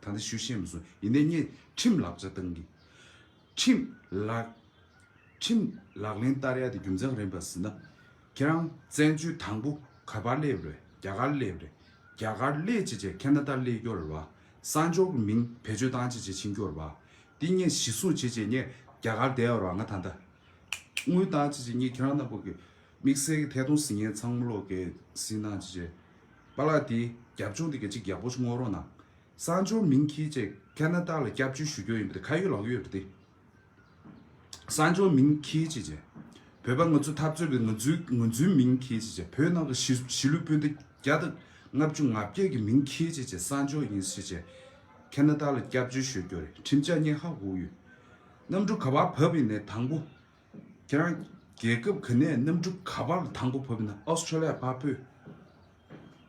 ད་ལྟ་ཞུ་ཤེས་མི་སོང། ཡིན་ནའི་ངས་ཁྲིམས་ལག་ཆ་བཏང་གི། ཁྲིམས་ལག། ཁྲིམས་ལག་ལེན་བསྟར་ཡ་དེ་རྒྱུ་མཚན་ག་རེ་ཡིན་པ་ཟེར་ན། ཁྱེད་རང་བཙན་བྱོལ་དང་པོ་ག་པར་སླེབས་རེད་རྒྱ་གར་སླེབས་རེད། རྒྱ་གར་སླེབས་བྱས་བྱས་ཁེ་ན་ཏར་སླེབས་སྐྱོར་བ། གསང་སྦྱོར་གྱི་མིང་བེད་སྤྱོད་བཏང་བྱས་བྱས་ཕྱིན་སྐྱོར་བ། དེ་ངས་གཞི་བཟུང་བྱས་བྱས་ངས་རྒྱ་གར་བསྡད་ཡོར་བ་ང་ད་ལྟ། དངུལ་བཏང་བྱས་བྱས་ངས་ཁྱེད་རང་རྣམས་པོ་གི་དམིགས་བསལ་གྱི་ཐད་གཏོང་ཟིན་ངན་ཚང་མ་ལོག་གེ་ཟིན་གནང་བྱས་བྱས། པཱ་ལགས་དེ་རྒྱབ་ལྗོངས་དེ་ག་ཅིག་རྒྱབ་པོ་སྔོག་རོགས་གནང། སང་ཇོ་མིང་ཁྱི་བཅས་ཁ་ན་ཏཱ་ལ་སྐྱབས་བཅོལ་ཞུ་རྒྱོ་ཡིན་པ་དེ་ཁ་ཡོད་ལག་ཡོད་རེད་དེ། སང་ཇོ་མིང་ཁྱི་བཅས་བཅས་བོད་པ་ང་ཚོ་འཐབ་རྩོད་པའི་ང་ཚོའི་ངོས་འཛུན་མིང་ཁྱི་བཅས་བཅས་བོད་ནང་གི་གཞི་གཞི་ལུས་སྤུན་ཟླ་བརྒྱ་དང་ལྔ་བཅུ་ང་བརྒྱད་ཀྱི་མིང་ཁྱི་བཅས་བཅས་སང་ཇོ་ཡིན་བཅས་བཅས་ཁ་ན་ཏཱ་ལ་སྐྱབས་བཅོལ་ཞོད་རྒྱོ་རེད་ཁྲིམས་ཆ་སྙེག་ཧ་གོ་ཡོད། གནམ་གྲུ་ག་བར་བབས་ཡིན་ནས་དང་པོ། ཁྱེད་རང་རྒྱལ་ཁབ་ག་ནས་གནམ་གྲུ་ག་པར་དང་པོ་བབས་ཡིན་ན Australia པ་པོས་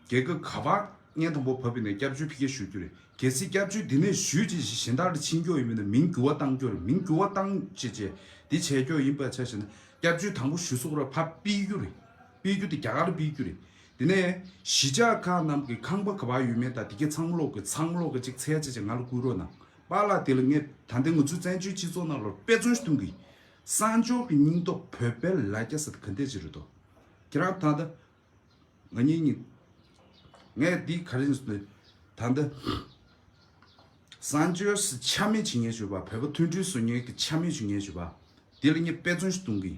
རྒྱལ་ཁབ་ག་པར་བརྙན་དང་པོ་བབས་ཡིན་ན་སྐྱབས་བཅོལ་ཕི་ཁེ་ཞུ་རྒྱུ་རེད་གལ་སྲིད་སྐྱབས་བཅོལ་འདི་ནས་ཞུས་རྗེས་གཞན་དག་ལ་ཕྱིན་སྐྱོག་ཡིན་པ་ན་མིང་འགྱུར་བ་བཏང་སྐྱོག་རེད་མིང་འགྱུར་བ་བཏང་བྱས་རྗེས་འདི་བྱས་སྐྱོག་ཡིན་པ་ཆ་ཞེ་ན་སྐྱབས་བཅོལ་དང་པོ་ཞུ་སོགས་ར་ཕབ་སྤིས་རྒྱུ་རེད་སྤིས་རྒྱུ་དེ་རྒྱ་གར་སྤིས་རྒྱུ་རེད་དེ་ནས་གཞིས་ཆགས་ཁག་རྣམས་ཀྱི་ཁང་པ་ག་པར་ཡོད་མེད་དང་དེ་གའི་ཚང་མ་ཀློག་དགོས་ཚང་མ་ཀློག་དགོས་གཅིག་ཚལ་བྱས་རྗེས་ང་ལ་བསྐུར་རོགས་གནང། པ་ལགས་དེ་ལ་ངས་ད་ལྟའི་ང་ཚོའི་བཙན་བྱོལ་སྤྱི་ཚོགས་ནང་ལོར་དཔེ་མཚོན་གཏོང་གི། གསང་སྤྱོར་གྱི་སྙིང་སྟོབས་བོད་དཔལ་ལ་སྐྱ་ཟད་ག་འདས་ཅི་རེད་དོ། ཁྱེད་རང་ད་ལྟ། ང་གཉིས་གཉིས། ངས་འདི་ག་རེ་ཟེར། ད་ལྟ། གསང་སྤྱོར་སི་ཆ་མེད་བྱེད་ངན་ཞུ་བ་བོད་པ་མཐུན་སྒྲིལ་བཟོ་ངན་གྱི་ཆ་མེད་ཞུ་ངན་ཞུ་བ། དེ་ལ་ངས་དཔེ་མཚོན་གཏོང་གི།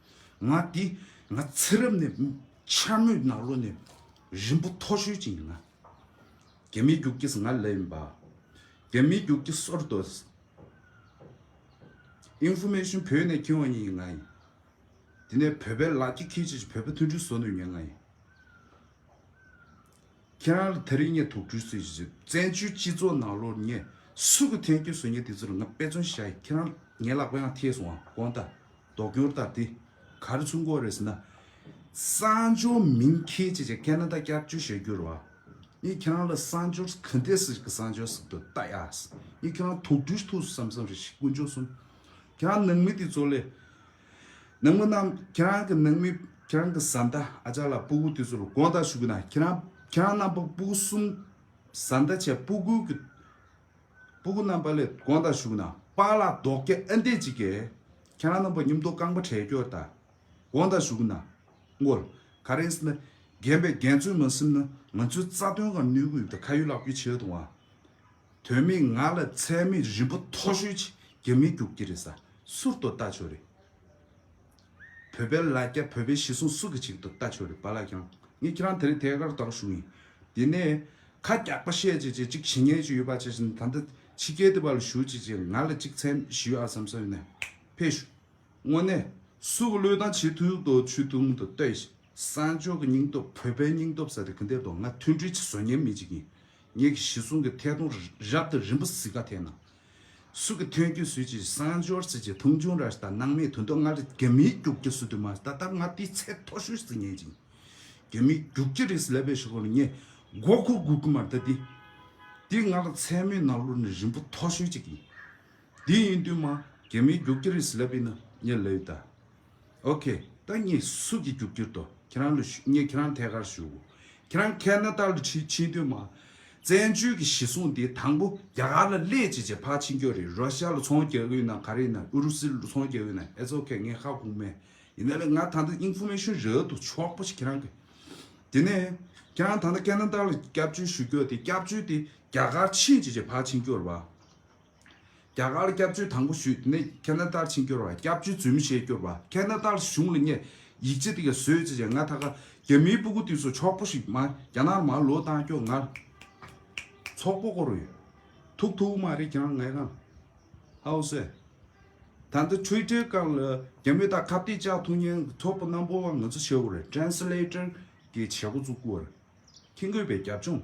ང་འདི་ང་ཚེ་རབས་ནས་འཆར་མོད་ནགས་ལོ་ནས་རིན་པོ་མཐོ་ཤོས་ཅིག་ཡིན་ན། རྒྱ་མིའི་རྒྱུག་ཁྱི་ཟངས་ལེབ་ཡིན་པ། རྒྱ་མིའི་རྒྱུག་ཁྱི་སོར་དོ། Information བོད་ནས་ཁྱེར་འོང་ཡིན་ཡིན་ང་ཡིན། དེ་ནས་བོད་པའི་ལག་ཁྱི་ཁྱེར་ཅིག་བོད་པ་མཐུན་སྒྲིལ་བཟོ་ནུས་ཡིན་ཡིན་ང་ཡིན། ཁྱེད་རང་ལ་ད་རེས་ངས་དོགས་འདྲི་ཞུ་ཞེས་བཙན་བྱོལ་སྤྱི་ཚོགས་ནང་ལོ་ངས་སུ་གི་ཐན་སྐྱོན་བཟོས་ངས་དེ་ཚོ་ལ་ང་དཔེ་མཚོན་བྱ་ཡི་ཁྱེད་རང་ངའི་ལག་པའང་ཐེས་སོང་ང་དགོངས་དག་དོགས་སྐྱོར་དག་དེ་ག་རེ་ཚུགས་འགོ་རེད་ཟེར་ན། གསང་སྦྱོར་མིང་ཁྱེད་ཀྱིས་ཀྱང་ཀ་ན་ད་སྐྱབས་བཅོལ་བྱེད་རྒྱུར་བ་ངས་ཁྱེད་རང་ལ་གསང་སྦྱོར་ག་འདི་ཟེར་གི་གསང་སྦྱོར་ཟེར་དོ་ལྟ་ཡག་ངས་ཁྱེད་རང་དོགས་འདྲི་ཐུགས་སུ་བསམ་བསམ་རེད་ཤི་དཀོན་མཆོག་གསུམ་ཁྱེད་རང་ནང་མི་དེ་ཚོ་ལས་ནང་མི་རྣམས་ཁྱེད་རང་གི་ནང་མི་ཁྱེད་རང་གི་བཟའ་ཟླ་ཨ་ཅག་ལ་སྤུ་གུ་དེ་ཚོར་དགོངས་དག་ཞུ་གི་ན་ཁྱེད་རང་ཁྱེད་རང་རྣམ་པ་སྤུ་གུ་གསུམ་བཟའ་ཟླ་བྱས་སྤུ་གུ་གི་སྤུ་གུ་རྣམ་པ་ལས་དགོངས་དག་ཞུ་གི་ན་པ་ལགས་རྡོག་རྒྱ་ཨ་འདས་ཅིག་གས་ཁྱེད་རང་རྣམ་པ་སྙུམ་མདོག་རྐང་པ་བྲལ་སྐྱོར་དག་དགོངས་དག་ཞུ་གི་ན་ངོར་ག་རེ་ཟིན་ན་རྒན་པའི་རྒན་ཚོས་མ་སེམས་ན་ང་ཚོའི་རྩ་དོན་གང་ནུས་གུས་ཡུབ་དང་ཁ་ཡོད་ལག་ཡོད་བྱེད་ཡོད་དང་བ་དོན་མེད་ང་ལ་ཚད་མེད་རིན་པོ་མཐོ་ཤོས་ཅིག་རྒྱ་མིས་རྒྱུག་གི་རེད་ས་སུར་དོ་ལྟ་ཆོག་རེད། བོད་པའི་ལ་རྒྱ་བོད་པའི་ཤི་སོང་སུ་གི་ཅིག་དོ་ལྟ་ཆོག་རེད་པ་ལགས་ཀྱང་ངས་ཁྱེད་རང་དེ་རིང་ཐད་ཀར་དག་ཞུ་ཡིན། དེ་ནས་ཁ་རྒྱག་པ་བཤད་ཅིག་ཅེས་ཅིག་ཞི་ཉེ་ཅིག་ཡོད་པ་བྱས་ཤིང་ད་ལྟ་ཕྱི་རྒྱལ་དེ་བ་ལ་ཞུ་ཅིག་ཅེས་ང་ལ་ཅིག་ཚད་མེད་ཞུ་ཨ་བསམ་བསམ་ཡོད་ན་ཕེབས་ཞུ། དངོས་གནས་སུ་གི་བློས་བཏང་བྱེད་ཐུབ་དོ་ཆུ་ཐུང་དུ་ལྟོས་ཤིག་ས་མཆོག་གི་སྙིང་སྟོབས་བོད་པའི་སྙིང་སྟོབས་ས་དེ་གི་འདེབས་དོ་ང་མཐུན་སྒྲིལ་གྱི་བཟོ་ཉེན་མེད་ཅིག་ཡིན། ངེད་ཀྱི་ཞི་གསུམ་གྱི་ཐད་གཏོང་རབ་ཏུ་རིམ་པ་བཟི་ཁ་ཐེན་ན། སུ་གི་ཐོན་རྒྱུ་སུས་ཀྱི་གསང་སྦྱོར་སུས་ཀྱི་ཐུང་ཆུང་ར་ལྟ་སྣང་མེད་དུ་འདོད་ང་རི་རྒྱ་མིའི་རྒྱུག་ཁྱི་སུ་དུ་མ་ད་ལྟ་ང་དེའི་ཚད་མཐོ་ཤོས་སུ་ངེས་ཅིང། རྒྱ་མིའི་རྒྱུག་ཁྱི་རིགས་སུ་ལས་པའི་ཞོགས་པ་ལ་ངས་མགོ་འཁོར་དགོས་ཀྱི་མ་རེད་ད་དེ། དེ་ང་ལ་མཚན་མོའི་ནག་ལུར་ནི་རིམ་པ་མཐོ་ཤོས་ཅིག་ཡིན། དེ་ཡིན་དུས་མ་རྒྱ་མིའི་རྒྱུག་ཁྱི་རིགས་སུ་ལས་པའི་ནི་ངས་ལས་ཡོད་ད། ཨོ་ཁེ། བདག་ཉིད་གཟུགས་ཀྱི་རྒྱུག་ཁྱིར་དོ། ཁྱེད་རང་ལུས་ངས་ཁྱེད་རང་ཐད་ཀར་བཞུགས། ཁྱེད་རང་མཁས་ན་རྟག་ཏུ་ཕྱིན་ཕྱིན་དུས་མ། བཙན་བྱོལ་གྱི་ཞི་གསུང་འདི་དང་པོ་རྒྱ་གར་ལ་སླེད་ཅིག་ཅེས་ཕར་ཕྱིན་ཀྱོ་རེད་རོ་ཤ་ལ་ཚོང་རྒྱག་གི་ཡོད་ན་ག་རེ་ཡིན་ན་ཨུ་རུ་སི་ལ་ཚོང་རྒྱག་གི་ཡོད་ན་ཨེ་ཟོ་ཁེ་ངས་ཁ་ཁུག་མེད་ཡིན་ན་ལེ་ང་ད་ལྟ Information རལ་དུ་ཕྱོགས་པོ་ཞིག་ཁྱེད་རང་གི་དེ་ནས་ཁྱེད་རང་ད་ལྟ་མཁས་ན་རྟག་ལ་སྐྱབས་བཅོལ་ཞུ་ཀྱོ་དེ་སྐྱབས་བཅོལ་དེ་རྒྱ་གར་ཕྱིན་ཅིག་ཅེས་ཕར་ཕྱིན་ཀྱོ་ར་བ། རྒྱ་གར་སྐྱབས་བཅོལ་དང་པོ་ཞུས་དེ་ནས་ཁེ་ན་ཏར་ཕྱིན་སྐྱོར་བ་སྐྱབས་བཅོལ་རྫུན་མི་བཤད་སྐྱོར་བ་ཁེ་ན་ཏར་གཞུང་ལ་བསྙད་ཡིག་ཅི་ཏི་ག་བཟོས་ཅི་བྱས་ང་ད་ག་རྒྱ་མིའི་སྤུ་གུ་ཏི་སོ་ཆོག་པོ་ཞིག་མ་རྒྱ་ནར་མ་ལོ་ཏང་སྐྱོ་ངར་ཚོགས་པོ་བསྐོ་རུ་ཡོད་ཐུག་ཐུག་མ་རེད་ཀྱང་ངས་གང་ཧའོ་སེ་ད་འདི་འཕྲུལ་སྒྲིལ་སྐང་ལ་རྒྱ་མི་ད་ག་བསྟི་ཅག་ཐུག་ཉན་ཚོགས་པོ་རྣམ་པོ་བ་ང་ཚོ་བྱེད་བོ་རེད Translator གི་བྱེད་སྒོ་བཙུགས་བོ་རེད་ཁྱི་འགོས་པའི་རྒྱབ་ལྗོངས།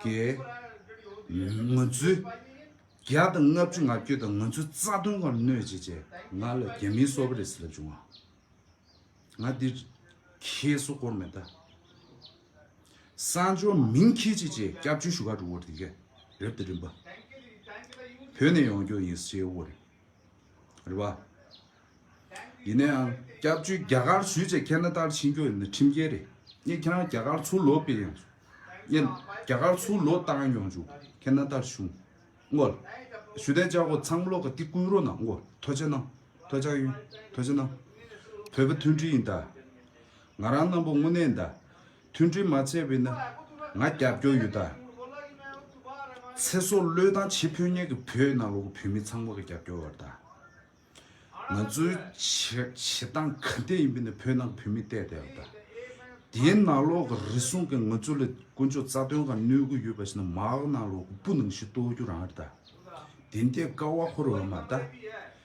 ཀྱི། ངོ་ཚུལ། བརྒྱ་དང་ལྔ་བཅུ་ང་བསྐྱོད་དང་ངོ་ཚུལ་རྩ་དོན་གང་གནོད་བྱེད་ཅེས་ང་ལ་རྒྱ་མིའི་སོ་བ་རེད་ཟེར་ལབ་བྱུང་ང། ང་འདིར། ཁྱེད་སོ་སྐོར་མེད་ད། གསང་སྦྱོར་མིང་ཁྱེད་ཅིག་ཅེས་སྐྱབས་བཅོལ་ཞུ་ཁ་འགྲོ་བར་དེ་གས་རེབ་ཏེ་རིམ་པ། བོད་ནས་ཡོང་རྒྱུ་ཡིན་ཟེར་བར། རེད་པ། ཡིན་ན་ཡང་སྐྱབས་བཅོལ་རྒྱ་གར་ཞུས་ཆེ་མཁྱེན་ན་ལྟར་ཕྱིན་རྒྱུ་ནི་ཁྲིམས་འགལ་རེད་ངས་ཁྱེད་རང་རྒྱ་གར་ཚུར་ལོག་པའི་ཡང་ངས་རྒྱ་གར་ཚུར་ལོག་བཏང་ཡོང་རྒྱུ་མཁྱེན་ན་ལྟར་ཞུ་ངོ། ཞུ་དན་ཅག་གོ་ཚང་ལོག་ག་ཏི་བསྐུལ་རོགས་གནང་ངོ་ཐོ་ཆེ་གནང་ཐོ་ཆག་ཡོན་ཐོ་ཆེ་གནང་བོད་པ་མཐུན་སྒྲིལ་ཡིན་ད། ང་རང་རྣམ་པོ་དངོས་གནས་ད། མཐུན་སྒྲིལ་མ་བྱས་པས་ནི་ང་རྒྱབ་སྐྱོར་ཡོད་ད། ཚེ་སྲོག་བློས་བཏང་བྱེད་ཕོད་མཁན་གྱི་བོད་ནང་ལོག་བོད་མི་ཚང་མ་གི་རྒྱབ་སྐྱོར་ཡོད་ད། ང་ཚོའི་བྱེད་སྟངས་ག་འདྲས་ཡིན་པས་ནི་བོད་ནང་གི་བོད་མིས་བལྟས་ད་ཡོད་ད། དེའི་ནང་ལོག་གི་རེ་ཟུང་གིས་ང་ཚོ་ལ་དཀོན་མཆོག་རྩ་དོན་གང་གནོད་དགོས་ཡོད་པ་ཞིག་ན་མ་འོག་ནང་ལོག་གི་སྤུ་ནང་བཞིན་གཏོར་རྒྱུ་རང་རེད་ད། དེ་འདྲས་དཀའ་བ་ཁོ་རང་འོས་མ་རེད་ད།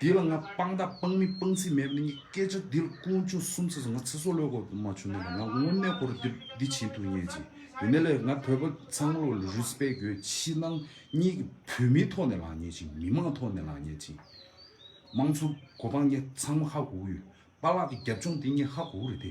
དེ་ལ་ང་སྤང་བདག་སྤང་མི་སྤང་ཚིག་མེད་པ་ནི་གཉིས་སྐད་ཆ་འདི་ལ་ཀུན་སྤྱོད་གསུམ་ཚིག་ང་ཚེ་སྲོག་བློས་བཀོད་པ་མ་བྱུང་ན་ལ་ང་དངོས་གནས་ཁོ་རུ་འདི་འདི་བྱེད་ཐུབ་ངེས་ཅི་ཡོད་ནས་ལས་ང་བོད་པ་ཚང་མ་ལ Respect དགོས་ཕྱི་ནང་གཉིས་ཀྱི་བོད་མིའི་ཐོག་ནས་ལངས་ངེས་ཅི་མི་མང་ཐོག་ནས་ལངས་ངེས་ཅི། དམངས་གཙོ་གོ་འཕང་ངེས་ཚང་མ་ཧ་གོ་གི་ཡོད་པ་ལགས་ཀྱི་རྒྱབ་ལྗོངས་དེ་ངེས་ཧ་གོ་གི་རེད་དེ་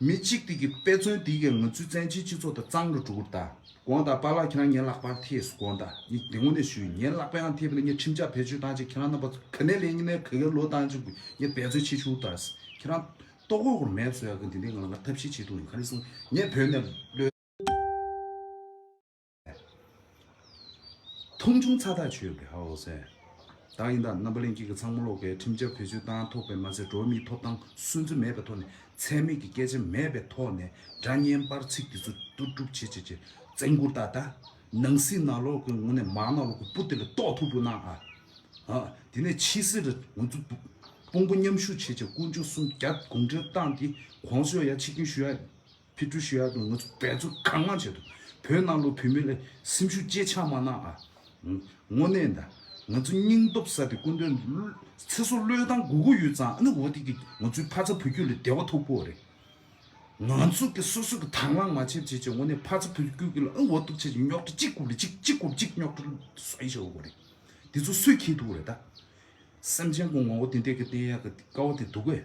མི་གཅིག་དེ་གི་དཔེ་མཚོན་དེ་གི་ང་ཚོའི་བཙན་བྱོལ་སྤྱི་ཚོགས་དང་གཙང་རུ་འགྲོ་དགོས་རེད་ད་དགོངས་དག་པ་ལགས་ཁྱེད་རང་ཉན་ལག་པར་ཐེས་སུ་དགོངས་དག་ཉིད་དེ་ངོ་ནས་ཞུ་ཡིན་ཉན་ལག་པའི་ཨང་ཐེས་པ་ལས་ཉིད་ཁྲིམས་ཆག་བེད་སྤྱོད་བཏང་ཆེད་ཁྱེད་རང་རྣམ་པ་ག་ནས་ལས་ཉིད་ནས་ག་གེར་ལོ་བཏང་ཆེད་དགོས་ཉིད་འབད་རྩོད་ཆེད་ཞུ་དག་ཁྱེད་རང་ལྟོ་གོས་ཁོར་མེད་བཟོས་ཡག་གི་འདི་འདི་ང་ལ་ང་ཐབས་ཤེས་བྱེད་ཐུབ་ཡིན་ག་རེ་གསུངས་ཉན་བོད་ནས་ལོས། མཐོང་ཆུང་ཚ་ཐག་ཆོད་པའི་ཧའོ་སན། བདག་ཡིན་དང་རྣམ་པ་གླེང་ཁྱེད་ཀྱི་ཚང་མ་ལོག་ཁའི་ཁྲིམས་འཆར་བེད་སྤྱོད་བཏང་ཐོག་པས་མ་ཚད་འགྲོ་བ་མིའི་ཐོབ་ཐང་སུན་གཙེར་མེད་པའི་ཐོག་ནས་ཚད་མེད་ཀྱི་སྐད་ཆ་མེད་པའི་ཐོག་ནས་སྒྲ་སྙན་པར་ཚིག་འདི་ཚོ་བསྡུ་སྒྲུབ་བྱེད་བྱེད་བྱེད་བཙན་བཀུར་ད་ད་ནང་སྲིད་ནང་ལོག་གི་ངོ་ནས་མང་ནང་ལོག་གི་སྤུ་དེ་ལ་ལྟོག་ཐུག་པོ་གནང་ཨ། ཧ། དེ་ནས་ཕྱི་སེར་རེ་ང་ཚོ་དཔུང་པོ་མཉམ་ཞུགས་བྱེད་བྱེད་དཀོན་མཆོག་སུམ་བརྒྱ་དགོངས་འགྲེལ་བཏང་སྟེ་གོང་སོས་ཡ་ཕྱི་སྐྱོན་ཞུ་ཡ། ཕི་ཀྲུ་ཤི་ཡ་དང་ང་ཚོ་འབད་རྩོལ་གང་མང་བྱས་འདུག་བོད་ནང་ལོ་བོད་མི་ལ་སེམས་ཤུགས་གཅེས་ཆག་མ་གནང་ཨ། དངོ་གནས་ད་ང་ཚོ་སྙིང་སྟོབས་ས་དེ་སྐུ་མདུན་ཚེ་སྲོག་བློས་བཏང་དགུ་དགུ་ཡོད་ཙང་ཨ་ནི་འོ་དེ་གི་ང་ཚོའི་ཕ་ཚ་བུ་རྒྱུད་ལ་བདེ་བ་ཐོབ་པོ་རེད། ང་ཚོ་གི་སོ་སོ་གི་དང་བླང་མ་བྱེད་བྱེད་བྱེད་དངོ་གནས་ཕ་ཚ་བུ་རྒྱུད་གི་ལ་ཨ་འོ་ཐུབ་ཆེ་ཆེ་རྙོག་དྲ་གཅིག་རྐུབ་ལ་གཅིག་གཅིག་རྐུབ་གཅིག་རྙོག་དྲ་བཟོ་ཡི་ཆོག་གོ་རེད། དེ་ཚོ་སུས་ཁེལ་ཐུབ་རེད་ད། སེམས་ཅན་གི་ངོ་བོ་དེ་འདྲས་གི་བསྟན་ཡག་གི་དཀའ་བ་དེ་འདུག་གས།